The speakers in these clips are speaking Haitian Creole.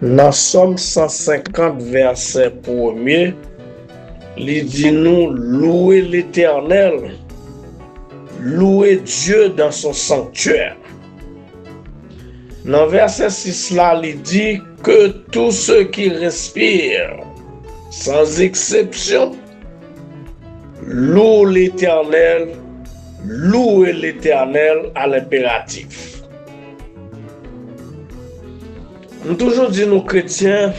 Nan Sòm 150 vèsè premye, li di nou, Louwe Letènèl, louwe Dye dan son sanktyè. Nan vèsè 6 la, li di, Ke tou se ki respire, san zeksepsyon, lou Letènèl, louwe Letènèl alenperatif. M toujou di nou kretyen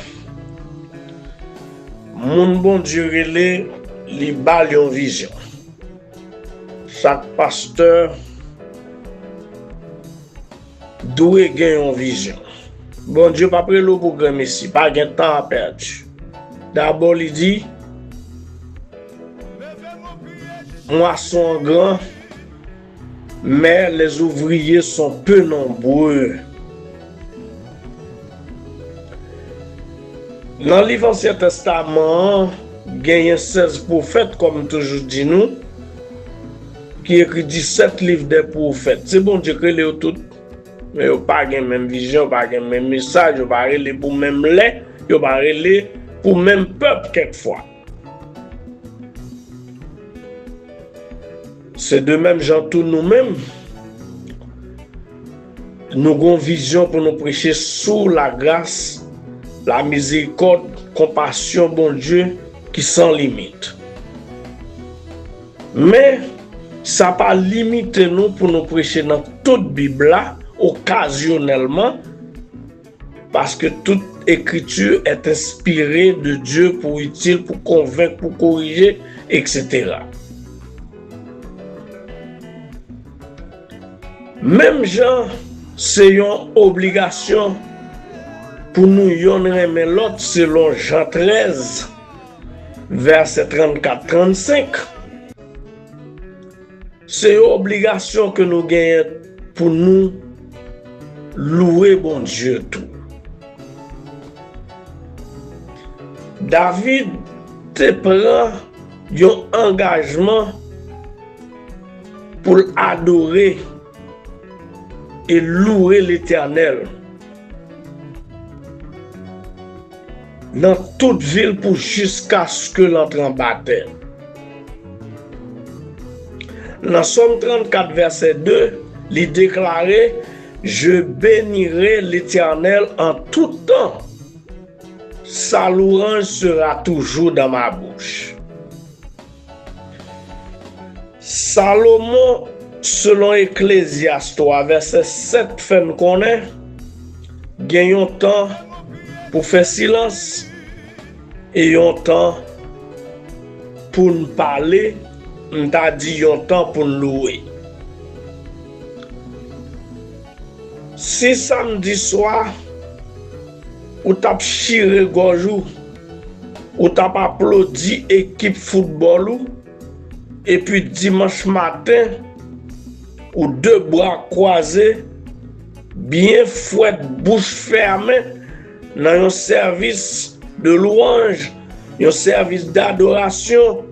moun Bondye rele li bal yon vizyon chak pastè dwe gen yon vizyon Bondye pap rele w pou granmesi pa gen tan a pèdi dabò li di mwason an gran. Mais les ouvriers sont peu nombreux Nan liv ansyen testaman an genyen 16 pwofèt kòm m toujou di nou ki ekri 17 liv dè pwofèt se Bondye k rele yo tout men yo pa gen menm vizyon yo pa gen menm mesaj yo pa rele pou menm lè yo pa rele pou menm pèp kèk fwa. Se de menm jan tou nou menm, nou gon vizyon pou nou preche sou lagras, lamizerikòd, konpasyon Bondye ki san limit. Men, sa pa limite nou pou nou preche nan tout Bib la, okazyonèlman, Paske tout ekriti est enspire de Dieu pou itil, pou konvenk, pou korije, etc. Menm jan se yon obligasyon pou nou yonn renmen lòt selon Jan 13 vèsè 34, 35. Se yon obligasyon ke nou genyen pou nou louwe Bondye tou. David te pran yon angajman pou l adore e louwe Letènèl. Nan tout vil pou jiskaske l antre anba tè. Nan Sòm 34 vèsè 2, li deklare, Je benirai l'Etènèl an tout tan, sa louranj sera toujou dan ma bouch. Salomon, selon Eklezyas 3 vèsè 7 fè n konnen, gen yon tan pou fè silans e yon tan pou n pale, m ta di yon tan pou n louwe. Si samdi swa. Ou tap chire gòj ou, ou tap aplodi ekip foutbòl ou, epi dimanch maten, ou de bra kwaze, byen fwèt bouch fèmen nan yon sèvis de lwanj, yon sèvis dadorasyon,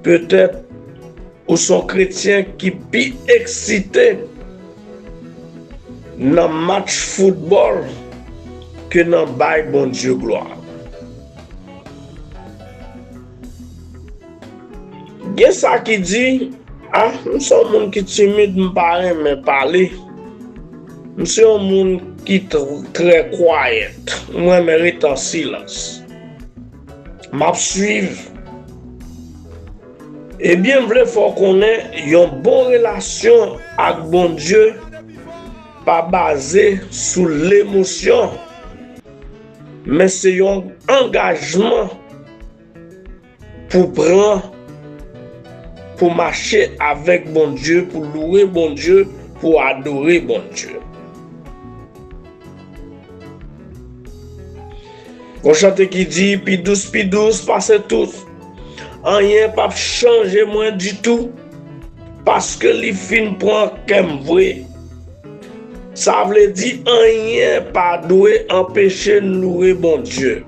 petèt. Ou son kretyen ki pi eksite nan match foutbòl ke nan bay Bondye glwa. Gen sa ki di, a, m se yon moun ki timid, m pa renmen pale, m se yon moun ki trè kwayèt, m renmen rete an silans. M ap swiv. Ebyen m vle fè w konnen yon bon relasyon ak Bondye pa baze sou lemosyon men se yon angajman pou pran pou mache avèk Bondye pou louwe Bondye pou adore Bondye. Yon chante ki di pi dous pi dous pase tout Anyen pap chanje mwen ditou Paske li fin pran kè m vre Sa vle di anyen pa dwe anpeche n loure Bondye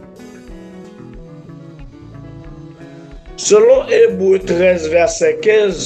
Selon Ebre 13 vèsè 15.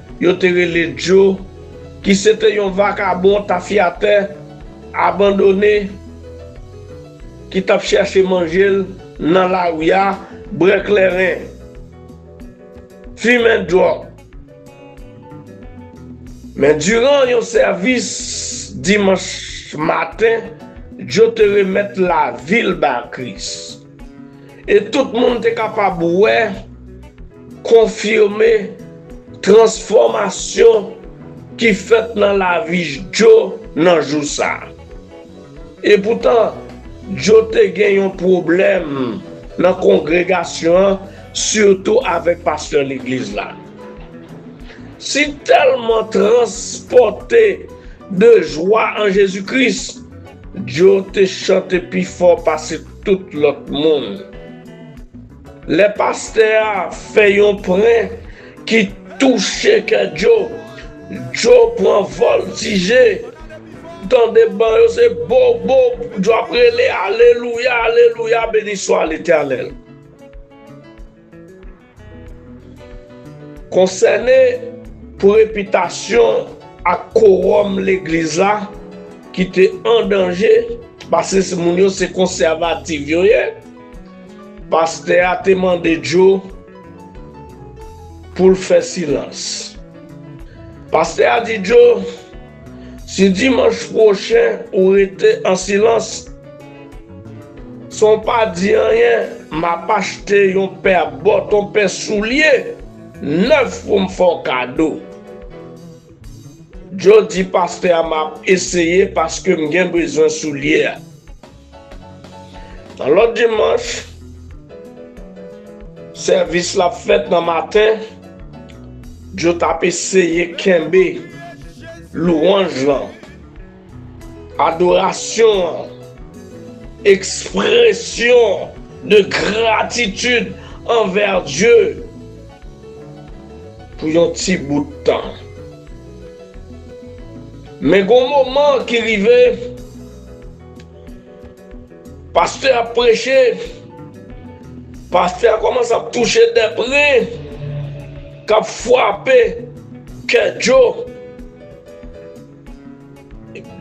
yo te rele Djo, ki se te yon vakabon tafyatè abandone ki t ap chèche manje l nan lari a, bwè klèren, fimen dwòg. Men diran yon sèvis dimanch maten, Djo te remèt lavi l ba Kris. E tout moun te kapab wè, konfime, transfòmasyon ki fèt nan lavi Djo nan jou sa. E poutan, Djo te gen yon pwoblèm nan kongregasyon an, sitou avèk pastè legliz la. Si tèlman transpòte de jwa an Jezi Kris, Djo te chante pi fò pase tout lòt moun. Lè pastè a fè yon pren ki touche kè Djo, Djo pran vòltije. Ou tande ban yo se bo bo, Djo ap rele alelouya, alelouya, beniswa letènèl. Konsène pou repitasyon ak kowòm legliz la ki te an danje pase si moun yo se konsèvativ yo ye, pastè a te mande Joe pou l fè silans. Pastè a di Joe, Si dimanch pwochen ou rete an silans, San w pa di anyen, m ap achte yon pè bòt, yon pè soulye nèf pou m fè w kado. Djo di pastè a m ap eseye paske m gen bezwen soulye a. Nan lòt dimanch, sèvis la ap fèt nan maten, Djo t ap eseye kenbe lwanj lan. Adorasyon an, ekspresyon de gratitid anvè Dye pou yon ti bout tan. Men gon moman ki rive, pastè ap preche, pastè a kòmanse ap touche de pre, kap fwape kè Djo.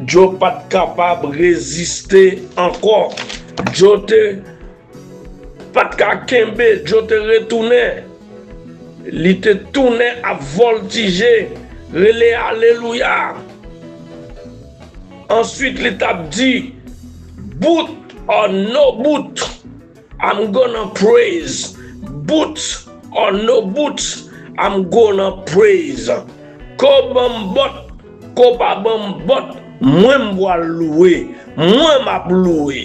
Djo pat kapab reziste ankò djo te Pat ka kenbe djo te retounen li te tounen ap vòltije rele alelouya answit li tap di bout or no bout. I'm gonna praise, bout or no bout, I'm gonna praise Ke w ban m bòt, ke w pa ban m bòt, mwen m pwal louwe, mwen m ap louwe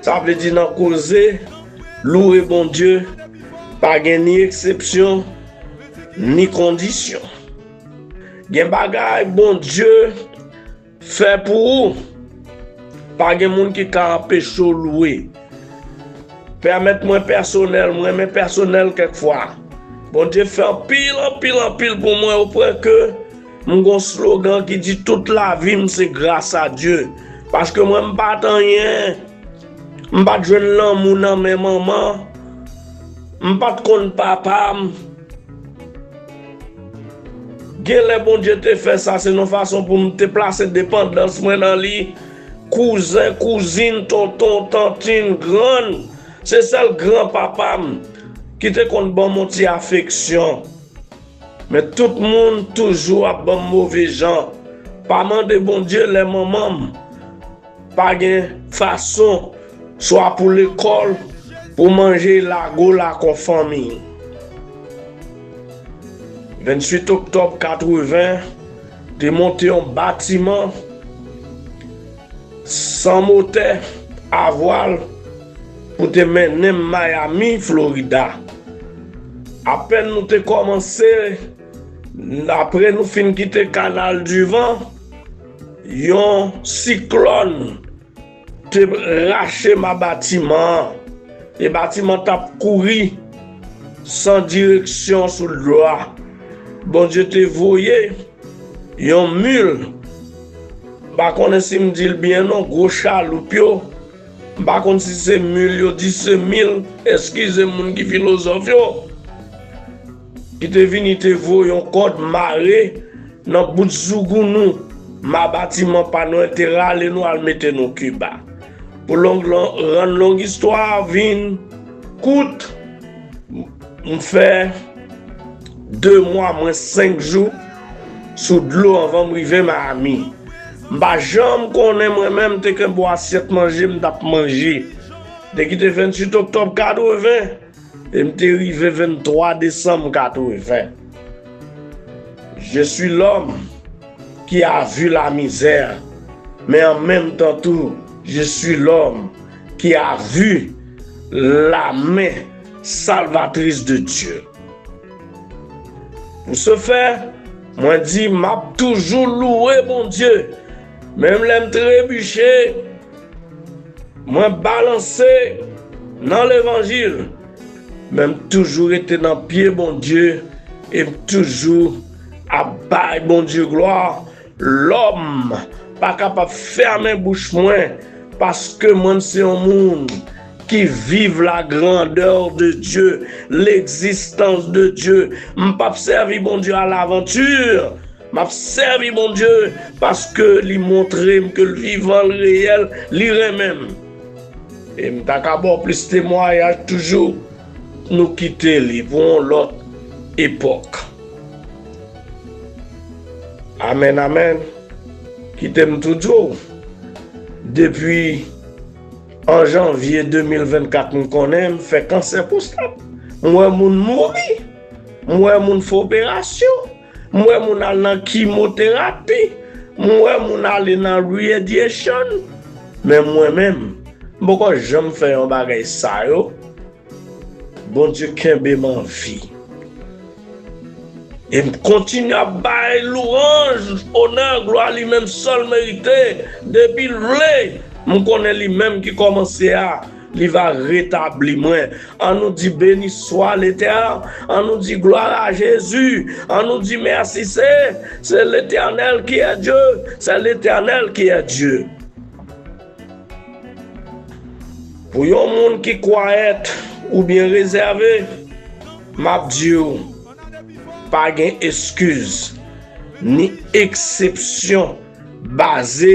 Sa vle di nan koze, louwe Bondye pa gen ni eksepsyon, ni kondisyon Gen bagay Bondye. Fè pou ou! Pa gen moun ki ka anpeche w lwe. Pèmèt mwen pèsonèl, m renmen pèsonèl kèk fwa. Bondye fè anpil, anpil, anpil pou mwen o pwen ke m gon slogan ki di tout lavi m se gras a Dye. Paske mwen m pat anyen, m pat jwenn lanmou nan men manman, m pat konn papa m. Genlè Bondye te fè sa se yon fason pou m te plase depandans mwen nan li. Kouzen, kouzin, tonton, tantin, grann, se sèl gran papa m ki te konn ban m yon ti afeksyon. Men tout moun toujou ap ban m move jan. Pa mande Bondye lè manman m. Pa gen fason swa pou lekòl pou manje lago la kon fanmi. 28 oktòb 80 te monte yon batiman san motè a vwal pou te mennen m Miami, Florida. Apèn nou te kòmanse, apre nou fin kite Kanal di Van, Yon siklòn te rache ma batiman an e batiman an t ap kouri san direksyon sou dlo a. Bondye te voye yon mil, m pa konnen si m di l byen non, gwo chaloup yo, m pa konn si se mil yo di se mil, eskize m moun ki filozòf yo. Ki te vini te voye yon kòd mare nan bout zougoun nou, ma batiman pa nou an te rale nou al mete nou Kiba. Pou long lan rann long istwa a vin kout, m fè 2 mwa mwens 5 jou sou dlo anvan m rive Miami. M pa janm konnen mwen menm te kenbe yon asyèt manje m t ap manje. Te kite 28 oktòb 80. E m te rive 23 desanm 80. Je swi lòm ki a vu la mizè, men an menm tan tou je swi lòm ki a vu la men salvatris de Dye. Pou se fè, mwen di m ap toujou louwe Bondye, menm lè m trebiche. Mwen balanse nan levanjil men m toujou rete nan pye Bondye e m toujou ap bay Bondye glwa lòm pa kapab fèmen bouch mwen paske mwen m se yon moun ki viv la grandè de Dye legzistans de Dye m pap sèvi Bondye alavanti Map sèvi Bondye paske li montrem ke l vivan, l reyèl, li renmen m. E m ta ka ba w plis temwayaj toujou, nou kite li pou yon lòt epòk. Amèn amèn, kite m tou di w, depi 1 janvye 2024 m konnen m fè kansè pwostat, m wè moun mouri, m wè moun fè operasyon. M wè moun al nan kimoterapi, m wè moun ale nan radiation, men mwen menm, m poko janm fè yon bagay sa yo, Bondye kenbe m anvi, e m kontinye ap bay louranj, onè, glwa li menm sèl merite, depi l vle, m konnen li menm ki kòmanse a. Li va retabli mwen. An nou di beni swa letèr an nou di glwa a jezi an nou di mèsi se se letènèl ki è dye sè letènèl ki è dye pou yon moun ki kwayèt ou byen rezève map di ou pa gen eskiz ni eksepsyon baze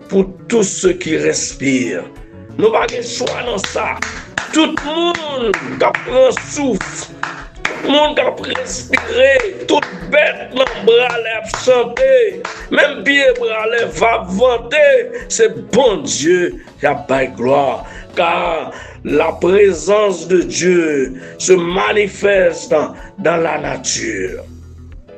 Pou tout se ki respire. Nou pa gen chwa nan sa. Tout moun k ap pran souf. Tout moun k ap respire. Tout bèt nan bra lè ap chante. Menm pye bra lè v ap vante. Se Bondye y ap bay glwa. Ka laprezans de Dye se manifeste dan lanati.